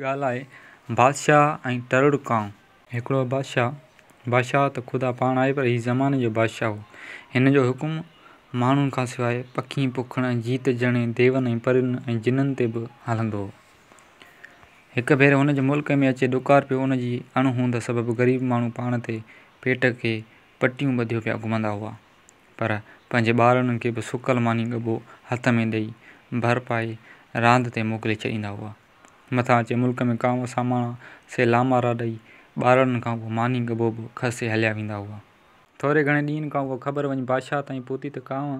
ڳالهه آهي بادشاهه ۽ ٽرڙ ڪانء. هڪڙو بادشاهه، بادشاهه ته خدا پاڻ آهي پر هي زماني جو بادشاهه هو. هن جو حڪم ماڻهن کان سواء پکين، پوکن ۽ جيت جهڙين ديون ۽ پرين ۽ جنن تي به هلندو هو. هڪ ڀيري هن جي ملڪ ۾ اچي ڏڪار پيو ان جي اڻ هوند سبب غريب ماڻهو پاڻ تي پيٽ کي پٽيون ٻڌيو پيا گهمندا هئا پر پنهنجي ٻارڙن کي به سڪل ماني ڳڀو هٿ ۾ ڏئي ڀر پائي راند تي موڪلي ڇڏيندا هئا. مٿان اچي ملڪ ۾ ڪانوء ساماڻا سي لامارا ڏئي ٻارڙن کان اهو ماني ڳڀو به کسي هليا ويندا هئا. ٿوري گهڻي ڏينهن کان اها خبر وڃي بادشاهه تائين پهتي ته ڪانوء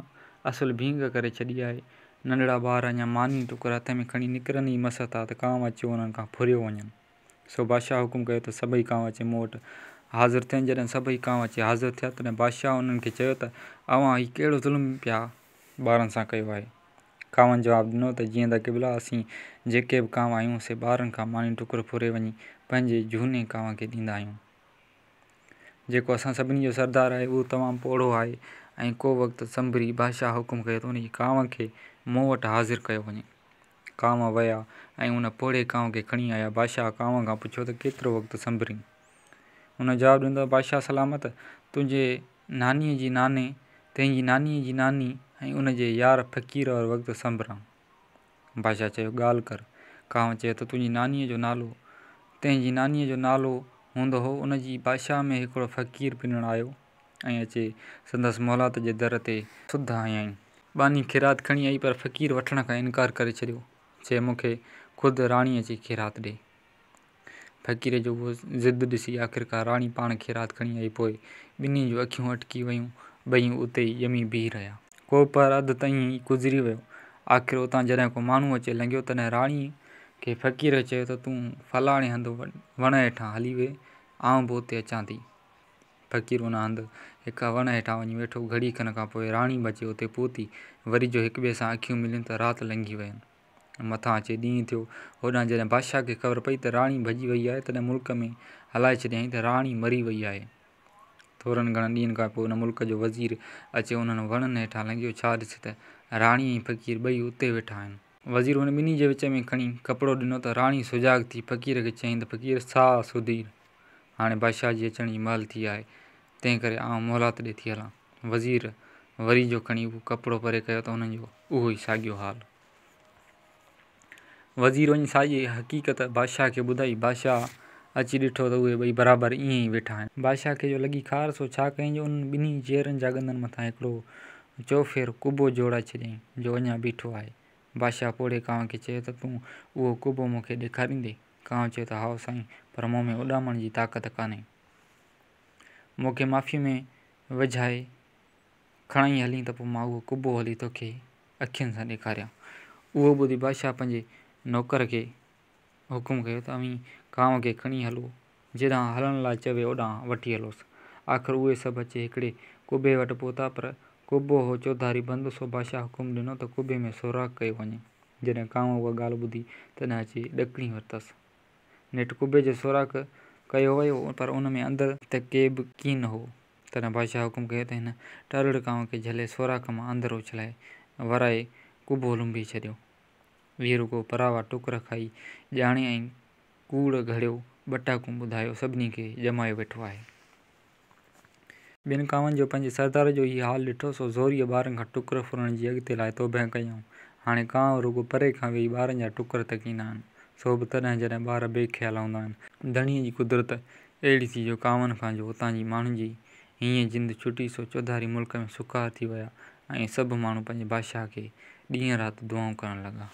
اصل ڀينگ ڪري ڇڏي آهي. ننڍڙا ٻار اڃا ماني ٽڪر هٿ ۾ کڻي نڪرن ئي مس ٿا ته ڪانوء اچيو انهن کان ڦريو وڃن. سو بادشاهه حڪم ڪيو ته سڀئي ڪانوء اچي مون وٽ حاضر ٿين. جڏهن سڀئي ڪانوء اچي حاضر ٿيا تڏهن بادشاهه انهن کي چيو ته اوهان هي ڪهڙو ظلم پيا ٻارن سان ڪيو آهي. ڪانوء جواب ڏنو ته جيئن ته قبلا اسين جيڪي به ڪانو آهيون سي ٻارن کان ماني ٽڪر ڦري وڃي پنهنجي جهوني ڪانو کي ڏيندا آهيون. جيڪو اسان سڀني جو سردار آهي اهو تمام پوڙهو آهي ۽ ڪو وقت سنڀري بادشاهه حڪم ڪيو ته ان جي ڪانو کي مون وٽ حاضر ڪيو وڃي. ڪانو ويا ۽ ان پوڙهي ڪانو کي کڻي آيا. بادشاهه ڪانو کان پڇيو ته ڪيترو وقت سنڀرين؟ ان جواب ڏنو ته بادشاهه سلامت تنهنجي نانيء جي ناني، تنهنجي نانيء جي ناني ۽ ان جي يار فقير اور وقت سنبران. بادشاهه چيو، ڳالهه ڪر. ڪانء چيو ته تنهنجي نانيء جو نالو، تنهنجي نانيء جو نالو هوند هو ان جي بادشاهه ۾ هڪڙو فقير پنڻ آيو ۽ اچي سندس محلات جي در تي سڌ هنيائين. ٻانهي خيرات کڻي آئي پر فقير وٺڻ کان انڪار ڪري ڇڏيو. چيو مون کي خود راڻي اچي خيرات ڏي. فقير جو اهو ضد ڏسي آخرڪار راڻي پاڻ خيرات کڻي آئي پوء ٻنهي جون اکيون اٽڪي ويون. ٻئي اتي ئي ڄمي بيهي رهيا. ڪو پهر اڌ ته ائين ئي گذري ويو. آخر اتان جڏهن ڪو ماڻهو اچي لنگهيو تڏهن راڻي کي فقير چيو ته تون فلاڻي هنڌ وڻ هيٺان هلي ويهه آئون به اتي اچان ٿي. فقير ان هنڌ هڪ وڻ هيٺان وڃي ويٺو. گهڙي کن کان پوء راڻي به اچي اتي پهتي. وري جو هڪٻئي سان اکيون مليون ته رات لنگهي وين. مٿان اچي ڏينهن ٿيو. هوڏانهن جڏهن بادشاهه کي خبر پئي ته راڻي ڀڄي وئي آهي، تڏهن ملڪ ۾ هلائي ڇڏيائين ته راڻي مري وئي آهي. ٿورن گهڻن ڏينهن کان پوء ان ملڪ جو وزير اچي انهن وڻن هيٺان لنگهيو، ڇا ڏسي ته راڻي ۽ فقير ٻئي اتي ويٺا آهن. وزير ان ٻنهي جي وچ ۾ کڻي ڪپڙو ڏنو ته راڻي سجاڳ ٿي فقير کي چيائين ته فقير ساهه سڌير، هاڻي بادشاهه جي اچڻ جي مهل ٿي آهي، تنهنڪري آئون مهلات ڏي ٿي هلان. وزير وري جو کڻي اهو ڪپڙو پري ڪيو ته انهن جو اهو ئي ساڳيو حال. وزير وڃي ساڄي حقيقت بادشاهه کي ٻڌائي. بادشاهه اچي ڏٺو ته اهي ٻئي برابر ائين ئي ويٺا آهن. بادشاهه کي جو لڳي خار، سو ڇا ڪيائين جو انهن ٻنهي چيئرن جا ڳندن مٿان هڪڙو چوڦير قبو جوڙائي ڇڏيائين، جو اڃا بيٺو آهي. بادشاهه پوڙهي ڪانء کي چيو ته تون اهو قبو مون کي ڏيکاريندين؟ ڪانء چيو ته هائو سائين، پر مون ۾ اڏامڻ جي طاقت ڪانهي. مون کي معافيء ۾ وجهائي کڻائين هلين ته پوء مان اهو قبو هلي توکي اکين سان ڏيکاريان. اهو ٻڌي بادشاهه پنهنجي نوڪر کي حڪم ڪيو ته اوهين ڪانء کي کڻي هلو، جيڏانهن هلڻ لاء چوي اوڏانهن وٺي هلوس. آخر اهي سڀ اچي هڪڙي قبي وٽ پهتا پر قبو هو چوڌاري بند، سو بادشاهه حڪم ڏنو ته قبي ۾ سوراخ ڪيو وڃي. جڏهن ڪانء اها ڳالهه ٻڌي تڏهن اچي ڏڪڻي ورتس. نيٺ قبي جو سوراخ ڪيو ويو پر ان ۾ اندر ته ڪي به ڪين هو، تڏهن بادشاهه حڪم ڪيو ته هن ٽارڙ ڪانء کي جهلي سوراخ مان اندر اڇلائي ورائي قبو لنبي ڇڏيو. ويهه رڳو پراوا ٽوڪر کائي ڄاڻي ۽ ڪوڙ گهڙيو ٻٽاڪون ٻڌايو سڀني کي ڄمايو ويٺو آهي. ٻين ڪاوهن جو پنهنجي سردار جو هي حال ڏٺو، سو زوريء ٻارن کان ٽڪر ڦرڻ جي اڳتي لاء توبهه ڪيائون. هاڻي ڪانء رڳو پري کان ويهي ٻارن جا ٽڪر تڪيندا آهن، سو به تڏهن جڏهن ٻار بي خيال هوندا آهن. ڌڻيء جي قدرت اهڙي ٿي جو ڪانوهن کان جو اتان جي ماڻهن جي هينئين جند ڇٽي سو چوڌاري ملڪ ۾ سکار ٿي ويا ۽ سڀ ماڻهو پنهنجي بادشاهه کي ڏينهن رات دعائون ڪرڻ لڳا.